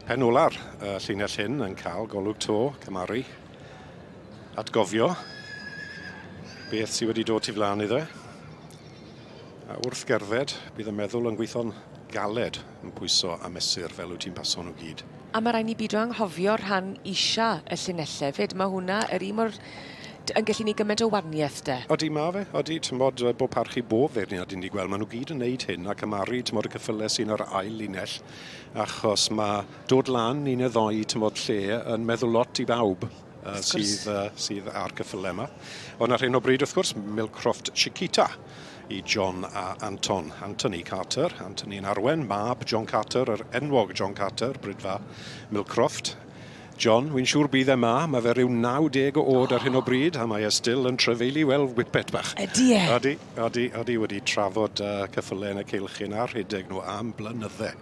Pen ola'r uh, llinell hyn yn cael golwg to, cymaru, atgofio beth sydd wedi dod tu flaen iddo. A wrth gerdded, bydd y meddwl yn gweithio'n galed yn pwyso a mesur fel wyt ti'n paso nhw gyd. A mae rhaid ni bido anghofio rhan isa y llinellau hefyd. Mae hwnna yr un mor... yn gallu ni gymaint o waniaeth de. Odi mae fe, odi, ti'n bod, bod parchu bob feirniad ni'n ei gweld, maen nhw gyd yn neud hyn ac ymaru, ti'n bod y cyffylau sy'n yr ail linell, achos mae dod lan un neu ddoi tymod lle yn meddwl lot i bawb uh, sydd, uh, sydd ar cyffylau yma. Ond ar hyn o bryd, wrth gwrs, Milcroft Chiquita i John a Anton. Anthony Carter, Anthony yn arwen, mab John Carter, yr enwog John Carter, brydfa Milcroft. John, wi'n siŵr bydd e 'ma, ma' fe ryw 90 o o'd ar hyn o bryd a mae e still yn trafeilu fel whippet bach. Ydi e? Ydi, ydi, ydi, wedi trafod y ceffyle yn y ceilchyn a rhedeg nhw am blynydde.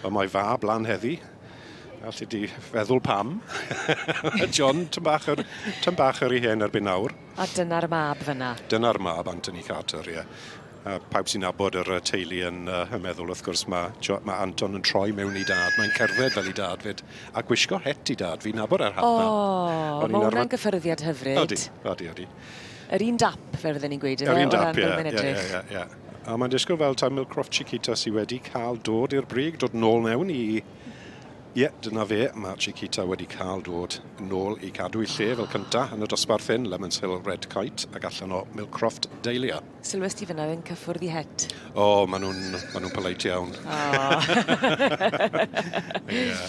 Wel mae fab lan heddi, alli di feddwl pam. John, tym bach yr, tym bach yr i hen erbyn nawr. A dyna'r mab fynna? Dyna'r mab, Anthony Carter, ie. A pawb sy'n nabod yr yy teulu yn yy yn meddwl wrth gwrs ma' Jo- ma' Anton yn troi mewn i dad, mae'n cerdded fel 'i dad 'fyd, a gwisgo het 'i dad, fi'n nabod yr hat 'na. O! O'n i'n arfer... Ma' wnna'n gyffyrddiad hyfryd. Odi, odi, odi. Yr un dap, fel fydden ni'n gweud, yfe? Yr un dap, ie. O ran fel mae'n edrych. Ie, ie, ie, ie. A mae'n disgwyl fel taw Milcroft Chiquita sy wedi cael dod i'r brig, dod nôl mewn i... Ie, dyna fe, ma' Chiquita wedi cael dod nôl i cadw'i lle fel cynta yn y dosbarth hyn, Lemons Hill Red Kite, ac allan o Milcroft Dahlia. Sylwes ti fyna yn cyffwrdd i het? O, maen nhw'n ma nhw polite iawn. O. yeah.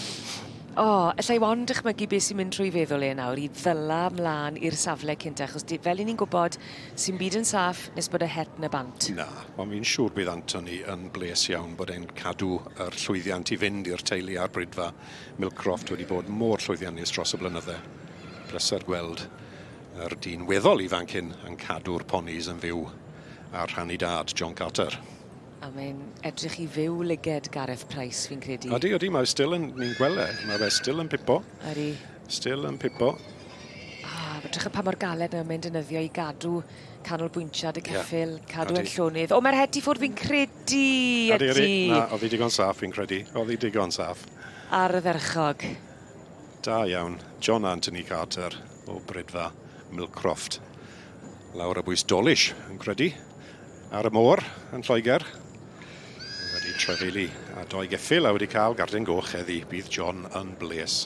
O, ella i ond dychmygu beth sy'n mynd trwy feddwl e nawr i ddyla mlaen i'r safle cynt, achos di, fel i ni'n gwybod, sy'n byd yn saff nes bod y het na bant. Na, ond fi'n siŵr bydd Anthony yn bles iawn bod e'n cadw yr llwyddiant i fynd i'r teulu a'r bridfa. Milcroft wedi bod mor llwyddiannus dros y blynydde. Pleser gweld Yr dyn weddol ifanc hyn yn cadw'r ponis yn fyw ar rhan i dad, John Carter. A mae'n edrych i fyw lyged Gareth Price, fi'n credu. Ydy, ydy, mae still yn, ni'n gweld e, mae fe still yn pipo. Ydy. Still yn pipo. Ah, edrych y pa mor galed nawr mae'n dynyddio i gadw canolbwyntiad y ceffil, yeah. cadw yn llonydd. O, mae'r heti ffwrdd fi'n credu, ydy. Ydy, ydy. Na, oedd hi digon saff fi'n credu. Oedd hi digon saff. Ar y ferchog. Da iawn, John Anthony Carter. o bridfa Millcroft. Lawr y bwys Dolish yn credu ar y môr yn Lloegr. Wedi trefeili a doi geffil a wedi cael garden goch heddi. Bydd John yn bles.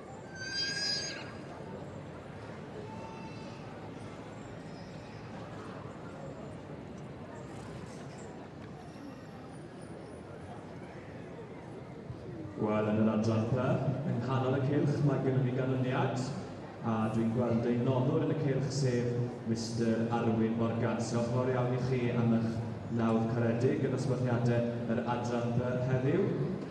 Wel, yn yr adran pa, yng nghanol y cylch, mae gennym ni ganlyniad, a dwi'n gweld ein noddwr yn y cylch, sef Mister Arwyn Morgan. So, fawr iawn i chi am eich nawdd caredig yn nosweithiadau yr adran by heddiw.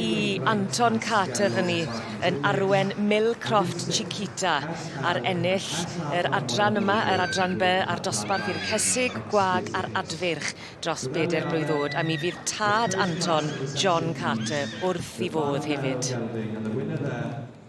i Anton Carter fyny yn arwen Mil Croft Chiquita ar ennill yr adran yma, yr adran by a'r dosbarth i'r Cesig, Gwag a'r Adfyrch dros bedair blwydd oed a mi fydd tad Anton, John Carter, wrth i fodd hefyd.